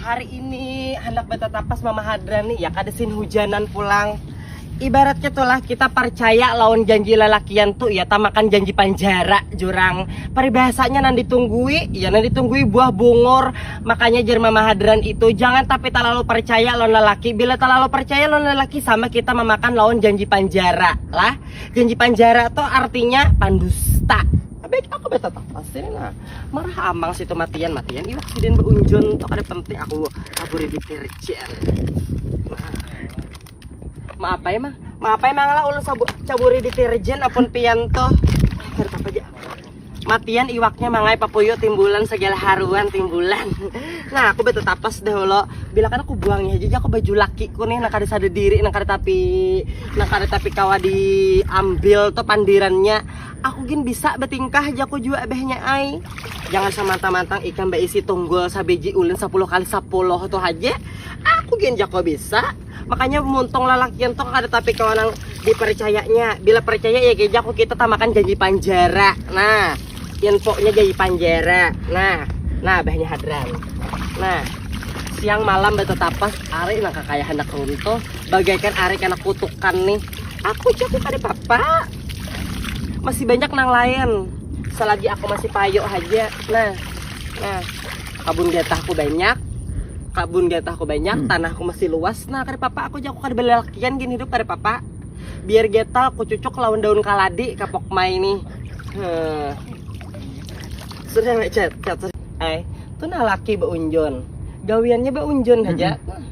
hari ini hendak betetapas mama hadran nih ya kadesin hujanan pulang ibaratnya tulah kita percaya lawan janji lelakian tuh ya tamakan janji panjara jurang peribahasanya nanti tunggui ya nanti tunggui buah bungur makanya jer mama hadran itu jangan tapi terlalu percaya lawan lelaki bila terlalu percaya lawan lelaki sama kita memakan lawan janji panjara lah janji panjara tuh artinya pandusta baik aku betetapas ini lah marah amang situ matian matian iwak sidin beunjun tuh ada penting aku kabur di kerjaan maaf ya mah maaf ya mangala ulun caburi deterjen apun pian tuh matian iwaknya mangai papuyu timbulan segala haruan timbulan nah aku betul tapas deh lo bila kan aku buangnya aja aku baju lakiku nih nak ada sadar diri nak ada tapi nak ada tapi kawa diambil tuh pandirannya Aku gin bisa betingkah jaku jua abahnya ai. Jangan samantang-mantang ikam beisi tunggul sabiji ulin sapuluh kali sapuluh tu haja. Aku gin jaku bisa. Makanya muntung lalakian tu kada tapi kawa nang dipercayanya. Bila percaya ya ke jaku kita tamakan janji panjara. Nah, infonya janji panjara. Nah, nah abahnya hadran. Nah, siang malam betetapas ari nang kakaya handak runtuh bagaikan ari kena kutukan nih. Aku jaku kada apa-apa. masih banyak nang lain selagi aku masih payo aja nah nah kabun getahku banyak kabun getahku banyak hmm. tanahku masih luas nah kada papa aku jago kada belelakian gini hidup kada papa biar getal aku cucuk lawan daun kaladi kapok mai ini hmm. sudah cat cat eh tuh nah laki beunjun gawiannya beunjun aja hmm.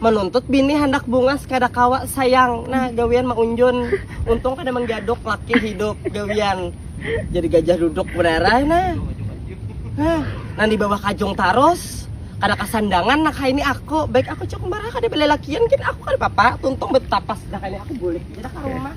menuntut bini handak bungas kada kawa sayang nah gawian maunjun untung kada menggaduk laki hidup gawian jadi gajah duduk berarah nah nah nang di bawah kajung tarus kada kasandangan nak hai ini aku baik aku cuk marah kada belelakian kin aku kada papa tuntung betapas dah kani aku bulik aja dah ka rumah.